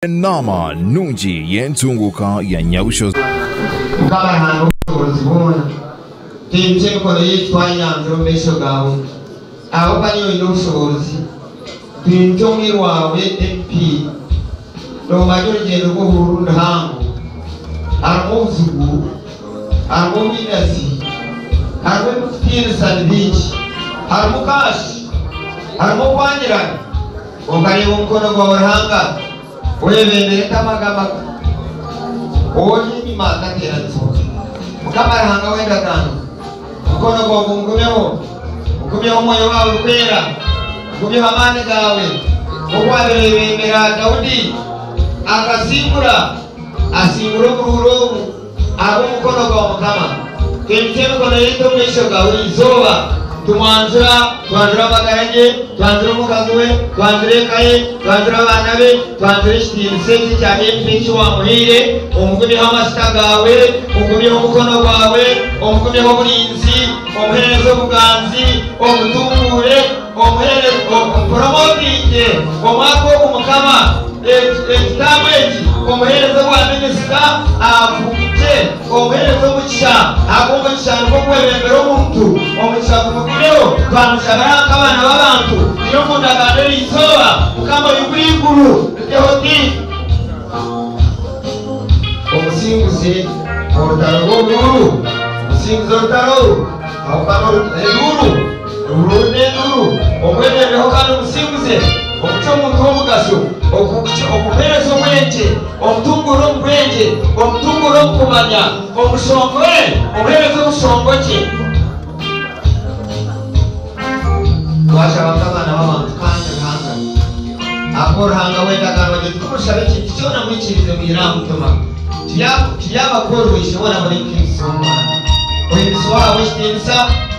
Enaama nungi y'entunguuka ya Nyabushozi. Nk'abaranga obushoboorozi bwona, tihiine ky'emikono yaitu twayanzire omu maisho gaawe. Ahabw'okuba niiwe oine obushoboorozi, twimukye omwiru waawe MP. Noomanya orugyendo rw'obuhururu niruhango, harimu obuzibu, harimu obwinazi, harimu ebirikutiinisa ni bingi, harimu kaashi, harimu okwangirana. Okareeba omukono gwawe Ruhanga gwebembera etama g'amaka, ori enyima gateeranizibwa. Mukama Ruhanga w'endagaano, omukono gwawe gungumeho, ogumyeho omwoyo waawe orikwera, ogumyeho amaani gaawe, nk'oku waabaire oyebembera Daudi, akasingura, asingura oburuuru obu. Ahabw'omukono gwa Mukama Twimitse emikono yaitu omu maisho gawe eizooba, Tumwanjura, twanjura amagara ge, Twanjura omukazi we, twanjura eka ye, Twanjura abaana be, twanjura ekitiinisa eki ekya Efa eki wamuhaire. Omugumyeho amajuta gaawe, Omugumyeho omukono gwawe, Omugumyeho oburinzi, Omuheereze obuganzi, Omutunguure. Omuhererezi ompuromotinge omwaka ogu mukama ekitabo eki omuhereza obwa minisita afumukye omuhereza omukisha ahabwomukisha nigwo ogukwebembera omuntu omukisha gumugumeho twamukyabira aha nkabana babantu turi omundagano eri izooba mukama oyigure iguru ritehote omusinguze orutaro rwobururu omusinguze orutaro aho kare eruru. Runda enduuru, omwemerereho kandi omusinguze, omutwe omuntu w'omugasho, okukuce, okukuheereza obwengye, omutunguure omu bwengye, omutunguure omu kumanya, omushongore, omuheereze obushongogye. Waacu abantu abaana b'abantu kandi Ruhanga akuwe Ruhanga w'endagaano agire oti, Timurishabe ekintu kyona mwikiirize mwire aha mutima, tiryaba tiryaba kworirwa Isheboona mbwenu Kristo Omwana, oihinisibwe ohabwe ekitiinisa.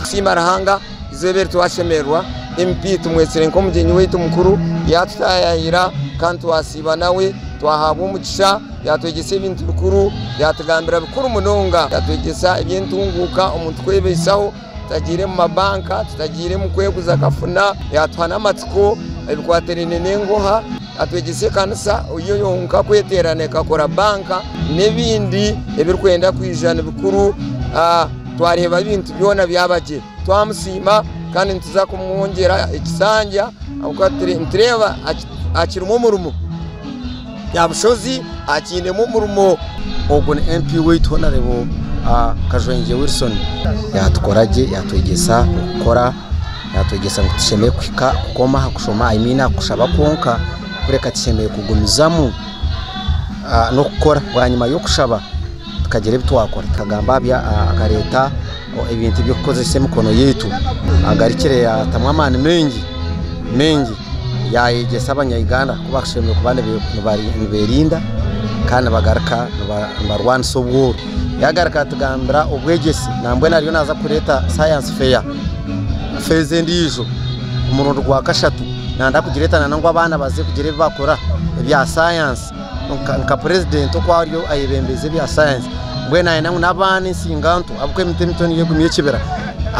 Tusiima Ruhanga izooba eri twashemererwa MP tumwetsire nk'omugyenyi waitu mukuru yatutayaayira kandi twasiiba nawe twahaabwa omugisha yatwegyesa ebintu bikuru yatugambira bikuru munonga yatwegyesa eby'entunguuka omuntu kwebaisaho tutagiire mu mabanka tutagiire mukweguza kafuna yatuha n'amatsiko ebikwatirine n'enguha Atwegyese ekanisa yo yonka kweterana ekakora banka n'ebindi ebirikwenda kwija ni bikuru. Twareeba ebintu byona byaba gye twamusiima kandi nituza kumwongyera ekisanja ahabw'okuba nitureeba akirimu omurimo. Nabushozi akiinemu omurimo. Ogwo ni MP waitu honarebo Kajwangye Wilson. Yatukora gye yatwegyesa okukora. Naatwegyesa ngu tushemereire kuhika kukoma aha kushoma, I mean aha kushaba kwonka, kureka tushemereire kugumizamu n'okukora bwanyima y'okushaba tukagira ebi twakora, tukagamba akareeta ebintu by'okukozesa emikono yaitu, agarukire yaatamu amaani maingi maingi yaayegyesa abanya Uganda ku bashemereire kuba nibeerinda kandi nibagaruka nibarwanisa obwooro. yagaruka yatugambira obwegyesi nambwenu ariyo naza kureta science fair feezi endiijo omurundi gwa kashatu nanda kugireta nana ngu abaana baze kugira ebi bakora ebya science nka purezidenti oku ariyo ayebembeza ebya science mbwenu nayenda ngu n'abaana ensinganto ahabw'okuba emiti emito niyo egumya ekibira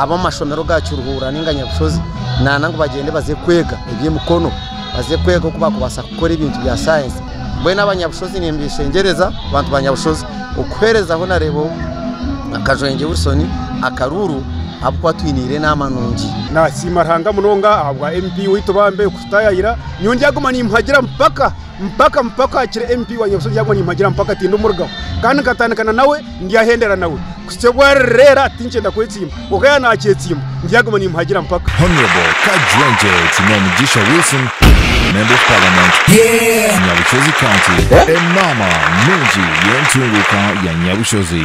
ab'omu mashomero ga kiruhuura nainga nyabushozi nayenda ngu bagyende baze kwega eby'emikono baze kwega oku bakubaasa kukora ebintu bya science Mbwenu abanyabushozi nimbeeshengyereza, bantu ba nyabushozi, okuherezaho nareeba akajwengye Wilson akaruuru abu kuba twine Irene Amanungi. Nasiima Ruhanga munonga ahabwa MP waitu bambi okututayaayira, nyowe ndyaguma nimuhagira mpaka mpaka mpaka akire MP wa nyabushozi ndyaguma nimuhagira mpaka tindimurigaho kandi nkatandika na nawe. ndyahendera nawe kuhitsya obu arireera tinkyenda kwetsimba kwonka yaaba naakyetsimba ndyaguma nimuhagira mpaka. Honourable Kajwenje Tinaimigisha Wilson, Member of Parliament, Nyabushozi County, Enaama nungi y'entunguuka ya Nyabushozi.